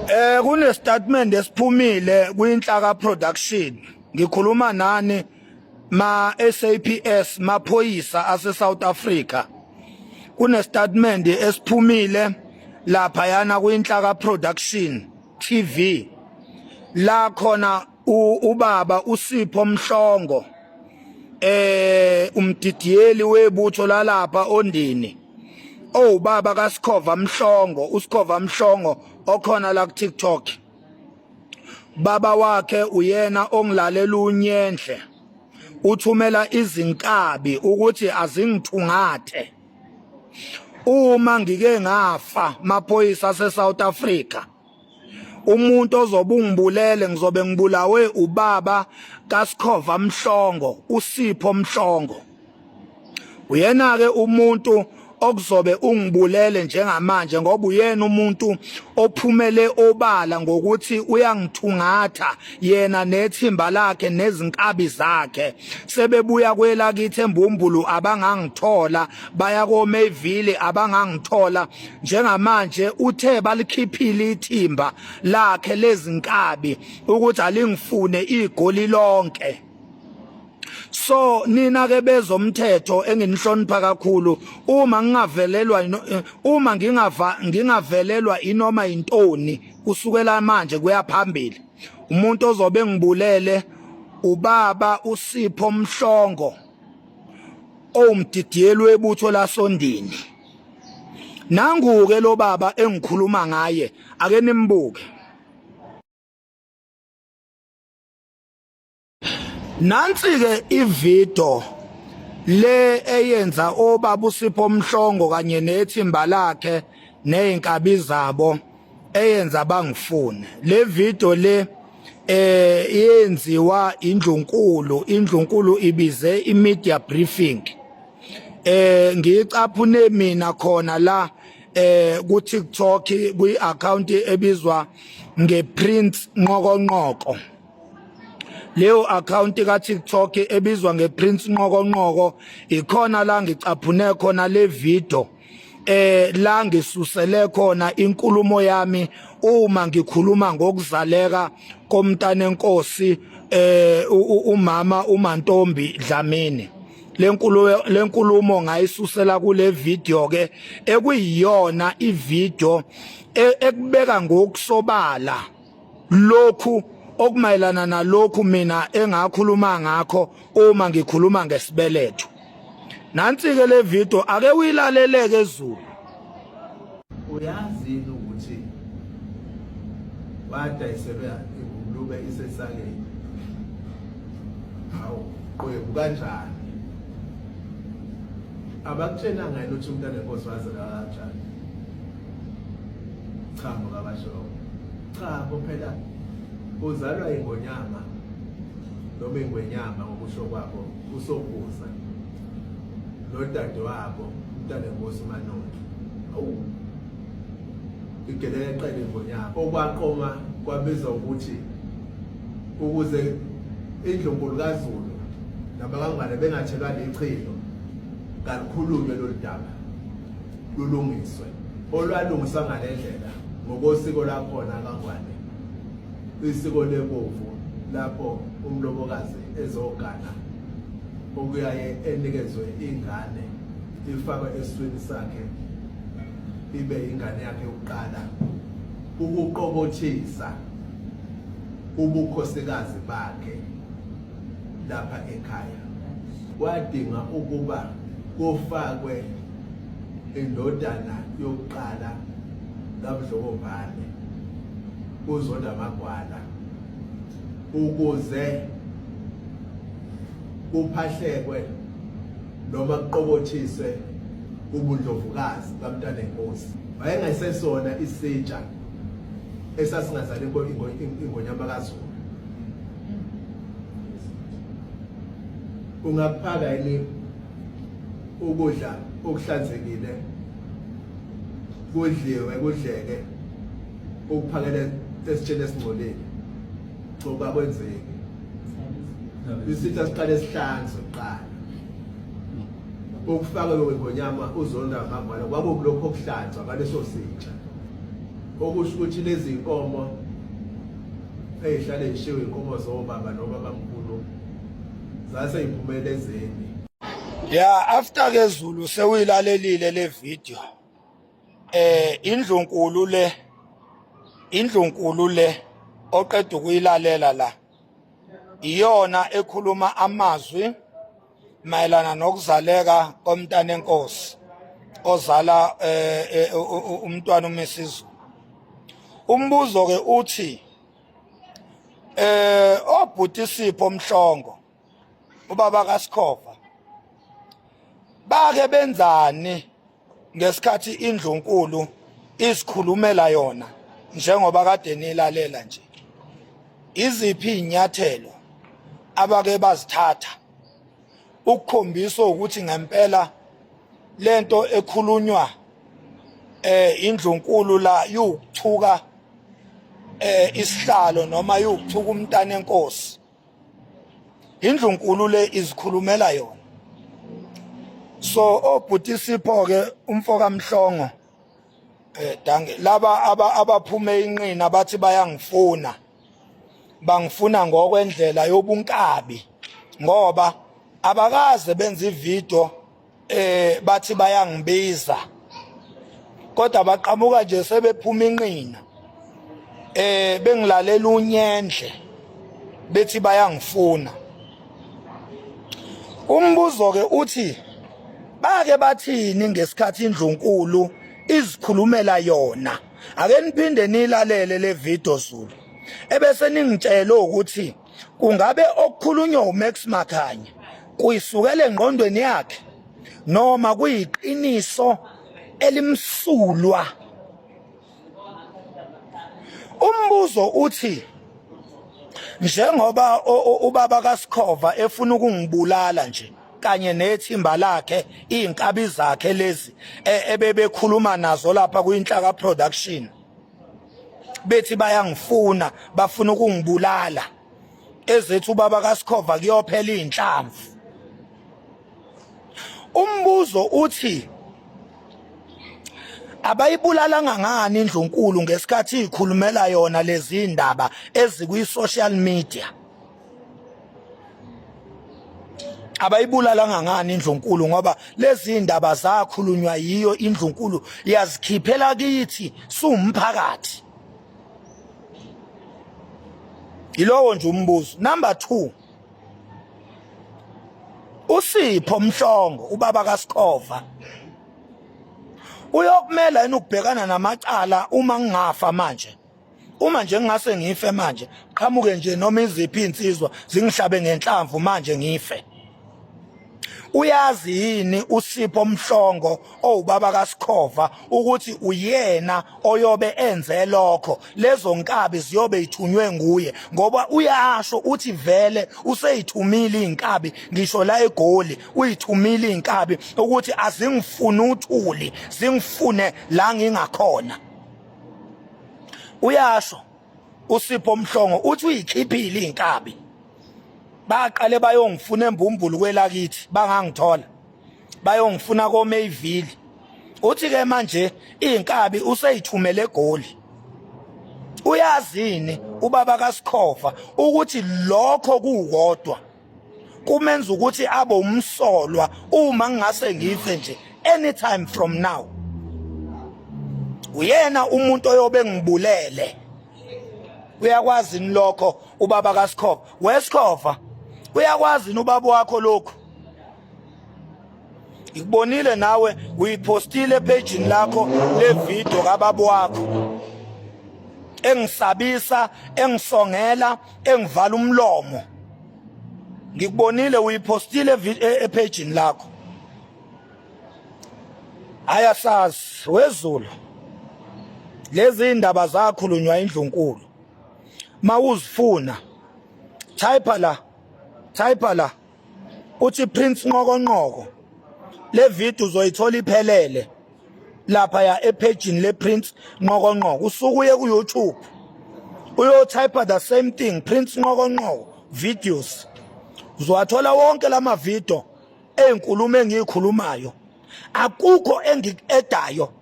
Eh kune statement esiphumile kwinhlaka production ngikhuluma nani ma SAPS maphoyisa ase South Africa kune statement esiphumile lapha yana kwinhlaka production TV la khona ubaba uSipho Mhlongo eh umdidiyeli webutho lalapha ondini owubaba oh, kaSikhova Mhlongo uSikhova Mhlongo okhona la ku TikTok baba wakhe uyena ongilalela unyenhle uthumela izinkabi ukuthi azingithungathe uma ngike ngafa maphoyisa aseSouth Africa umuntu ozobe ungibulele ngizobe ngibulawe ubaba kaSikhova Mhlongo uSipho Mhlongo uyena ke umuntu okuzobe ungibulele njengamanje ngoba uyena umuntu ophumele obala ngokuthi uyangithungatha yena nethimba lakhe nezinkabi zakhe sebebuya kwelakithi embumbulu abangangithola baya koMayville abangangithola njengamanje uthe balikhiphile ithimba lakhe lezinkabi ukuthi alingifune igoli lonke so nina ke bezomthetho enginihlonipha kakhulu uma ngingavelelwa eh, uma ngingava ngingavelelwa inoma intoni kusukela manje kuyaphambili umuntu ozobe ngibulele ubaba usipho mhlongo owumdidiyelwe ebutho lasondini nanguke lo baba engikhuluma ngaye ake nimbuke nansi ke ivideo le eyenza obaba usipho omhlongo kanye nethimba lakhe nezinkabi zabo eyenza bangifune le video le eh yenziwa indlunkulu indlunkulu ibize imedia briefing eh ngicaphune mina khona la eh ku TikTok kwi account ebizwa ngePrince Nqokonqoko leyo account ka TikTok ebizwa ngePrince Nqokonqoko ikhona la ngicaphune khona le video eh la ngisusele khona inkulumo yami uma ngikhuluma ngokuzaleka komntana enkosi eh umama uMantombi Dlamini lenkulumo lenkulumo ngayisusela kule video ke ekuyiyona ivideo e, ekubeka ngokusobala lokhu okumayelana nalokhu mina engakhuluma ngakho uma ngikhuluma ngesibeletho nansi ke le video ake uyilaleleke ezulu uyazi ukuthi wadayiselwe ingulube isesaleni hawu qwebu kanjani abakutshena ngani ukuthi umntana enkosi wazela kanjani cha mukabasho cha kuphela uzalwa ingonyama noma ingwenyama ngokusho kwabo usokuza nodade wabo umntana enkosi umanoni awu igelele qele ingonyama okwaqoma kwabiza ukuthi ukuze indlunkulu kazulu nabakangwane bengathelwa lichilo kalukhulunywe lolu daba lulungiswe olwalungiswa ngale ndlela ngokosiko lakhona kaNgwane isiko lebovu lapho umlobokazi ezogana okuyaye enikezwe ingane ifakwe eswini sakhe ibe ingane yakhe yokuqala ukuqobothisa ubukhosikazi bakhe lapha ekhaya wadinga ukuba kufakwe indodana yokuqala kaMdlokombane uZonda Magwala ukuze kuphahlekwe noma kuqokothiswe ubundlovukazi kamntana enkosi wayengasesona isitsha esasingazali ingonyama kazulu ungakuphaka yini ukudla okuhlanzekile kudliwe kudleke ukuphakela esitsheni esingcolile ngoba kwenzeki isitha siqale sihlanzwe kuqala ukufaka lokho ngonyama uzonda ngambala kwakukulokho okuhlanzwa ngaleso sitsha okusho ukuthi lezi nkomo ezihlale zishiwe inkomo zobaba noma bamkhulu zase iphumele ezeni ya after ke Zulu sewuyilalelile le video eh indlu nkulu le indlu nkulu le oqeda ukuyilalela la iyona ekhuluma amazwi mayelana nokuzaleka komntana enkosi ozala eh, eh, umntwana uMisizu umbuzo ke uthi eh obhuti Sipho Mhlongo ubaba kaSikhova bake benzani ngesikhathi indlunkulu isikhulumela yona njengoba kade nilalela nje iziphi inyathelo abake bazithatha ukukhombisa ukuthi ngempela lento ekhulunywa eh indlunkulu la yokuthuka eh isihlalo noma yokuthuka umntana enkosi indlunkulu le izikhulumela yona so obhuti sipho ke umfoka mhlongo eh danke laba abaphume inqina bathi bayangifuna bangifuna ngokwendlela yobunkabi ngoba abakaze benze ivideo eh bathi bayangibiza kodwa baqhamuka nje sebephuma inqina eh bengilalela unyendle bethi bayangifuna umbuzo ke uthi bake bathini ngesikhathi indlunkulu izikhulumela yona ake niphinde nilalele le video Zulu ebese ningitshela ukuthi kungabe okukhulunywa uMax Makhanya kuyisukele engqondweni yakhe noma kuyiqiniso elimsulwa umbuzo uthi njengoba ubaba kaSikhova efuna ukungibulala nje kanye nethimba lakhe izinkabi zakhe lezi e, ebebekhuluma nazo lapha kuyinhlaka production bethi bayangifuna bafuna ukungibulala ezethu ubaba kaSikhova kuyophela izinhlamvu umbuzo uthi abayibulalanga ngani indlunkulu ngesikhathi ikhulumela yona lezi ndaba ezikwi social media abayibulalanga ngani indlunkulu ngoba lezi ndaba zakhulunywa yiyo indlunkulu yazikhiphela kithi siwumphakathi yilowo nje umbuzo number 2 usipho mhlongo ubaba kaSikhova uyokumela yini ukubhekana namacala uma ngingafa manje uma nje ngingase ngife manje qhamuke nje noma iziphi insizwa zingihlabe ngenhlamvu manje ngife uyazi yini usipho mhlongo owubaba kasikhova ukuthi uyena oyobe enze lokho lezo nkabi ziyobe ithunywe nguye ngoba uyasho uthi vele useyithumile inkabi ngisho la egoli uyithumile inkabi ukuthi azingifuni uthuli zingifune la ngingakhona uyasho usipho mhlongo uthi uyikhiphile inkabi baqale bayongifuna embumbulu kwelakithi bangangithola bayongifuna koMayville uthi ke manje inkabi useyithumele egoli uyazini ubaba kaSikhova ukuthi lokho kukodwa kumenza ukuthi abe umsolwa uma ngingase ngife nje anytime from now uyena umuntu oyobe ngibulele uyakwazi ni lokho ubaba kaSikhova weSikhova uyakwazi ni ubaba wakho lokho ngikubonile nawe uyipostile epejini lakho levidiyo kababa wakho engisabisa engisongela engivala umlomo ngikubonile uyipostile e-, epejini lakho ayasazi wezulu lezi indaba zakhulunywa indlunkulu mawuzifuna type la type la uthi Prince Nqokonqoko le video uzoyithola iphelele lapha ya ephejini le Prince Nqokonqoko usuku uye ku YouTube uyotype the same thing Prince Nqokonqoko videos uzowathola wonke lama video ezinkulumo engiyikhulumayo akukho engikuedayo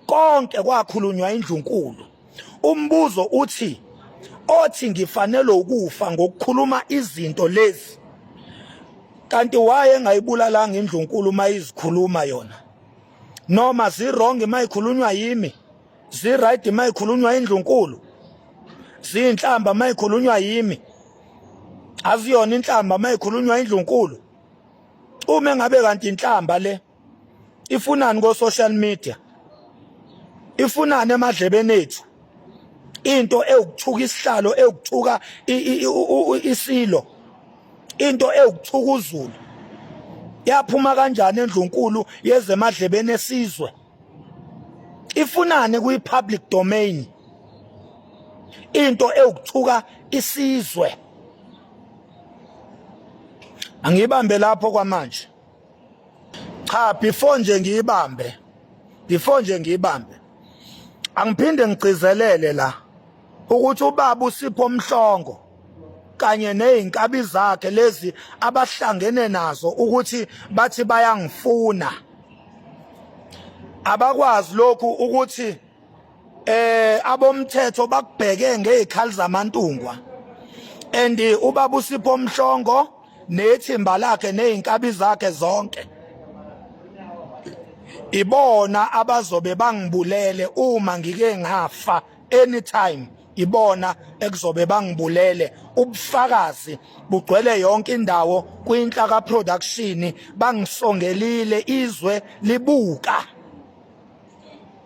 Konke kwakhulunywa indlunkulu. Umbuzo uthi othi ngifanelwe ukufa ngokukhuluma izinto lezi kanti waye engayibulalanga indlunkulu uma izikhuluma yona noma zirong uma ikhulunywa yimi ziright uma ikhulunywa indlunkulu ziyinhlamba uma ikhulunywa yimi aziyona inhlamba uma ikhulunywa indlunkulu uma engabe kanti inhlamba le ifunani ko social media ifunani emadlebeni ethu into ewukuthuka isihlalo ewukuthuka isilo into ewukuthuka uzulu yaphuma kanjani endlunkulu yezemadlebeni esizwe ifunani kwi public domain into ewukuthuka isizwe angiyibambe lapho kwamanje cha before nje ngiyibambe before nje ngiyibambe angiphinde ngigcizelele la ukuthi ubaba usipho omhlongo kanye nezinkabi zakhe lezi abahlangene nazo ukuthi bathi bayangifuna abakwazi lokhu ukuthi eh abomthetho bakubheke ngezikhali zamantungwa and ubaba usipho mhlongo nethimba lakhe nezinkabi zakhe zonke ibona abazobe bangibulele uma ngike ngafa anytime ibona ekuzobe bangibulele ubufakazi bugcwele yonke indawo kwinhla ka production bangisongelile izwe libuka